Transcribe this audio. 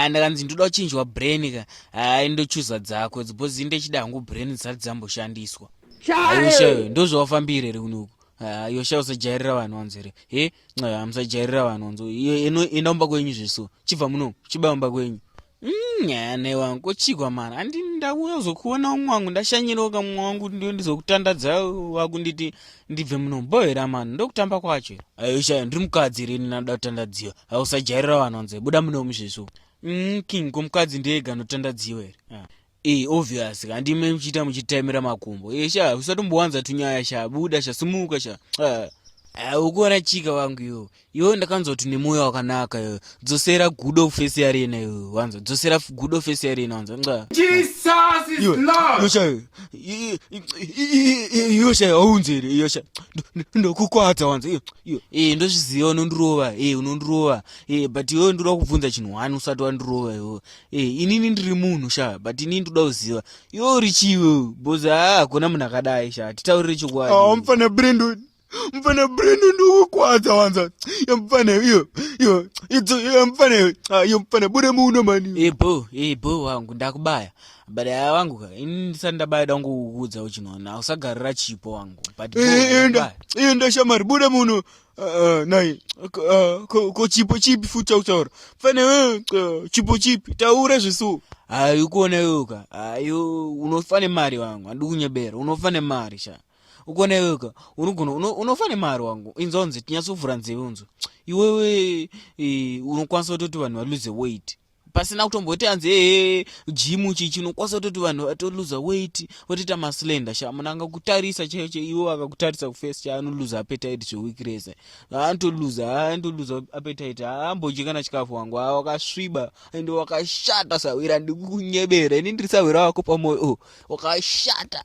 ndakanzi ndoda kuchinjwa brain ka hai ndochuza dzako dzibhozi ndechida hangu brain dzisati dzamboshandiswa aishayo ndozvawafambire here kunoku Ah, yosha usajairira vanhu wanzi here he nxaa musajairira vanhu wanzi enda umba kwenyu zveso chibva muno chiba umba kwenyu hmm, nyane wangu kochigwa mani andi ndauya kuzokuona umwe wangu ndashanyiroka mumwe wangu ndio ndizokutandadza wakunditi ndibve muno bohera mani ndokutamba kwacho ayosha ah, ndiri mukadzi rini nanoda kutandadziwa ausajairira ah, vanhu wanzi buda muno muzveso hmm, king komukadzi ndiye ganotandadziwa here Ii obvious ka ndime muchiita muchitemera makumbo iye sha usatombowanza tunyaya sha buda sha sumuka sha ah. Ah, ukuona chika wangu yo iwe ndakanzwa kuti nemoyo wakanaka yo dzosera gudo face yarena yo wanza dzosera gudo face yarena wanza nxa yosha aunzere yosha ndokukwadza wanza e ndozviziva unondirova e unondirova e but iwe ndiri wakubvunza chinhu wani usati wandirova yo Hey, eh, inini ndiri munhu sha but inini ndoda kuziva iwe uri chiwe bhozi haa hakuna munhu akadai sha titaurire chokwadi oh, mfana brendon mfana brendon ndokukwadza wanza yo mfana iyo iyo idzo iyo mfana iyo ah, iyo mfana bude muno mani hey, eh, bo hey, eh, bo wangu ndakubaya but aya wangu ka ini ndisati ndabaya da ngokukuudza uchinona usagarira chipo wangu but enda enda shamari bude muno Uh, nai uh, ko, ko chipo chipi futi chautaura fane uh, chipo chipi taura zvesu hayi ukuona yoka hayi unofa nemari wangu handi kunyebera unofa nemari sha ukuona yoka unogona unofa nemari wangu inzonzi tinyatsovhura nzeve unzo iwewe unokwanisa kutoti vanhu valuze weight pasina kutomboti hanzi ehe jimu chii chinokwanisa kutoti vanhu vatoluza weit votoita maslender sha munhu angakutarisa chaiyo chaiyo iwo akakutarisa kufesi cha anoluza apetite zveweek rese haantoluza antoluza apetite haambodyi kana chikafu wangu haa wakasviba ende wakashata sahwira ndikukunyebera ini ndiri sahwira wako pamoyo oh, wakashata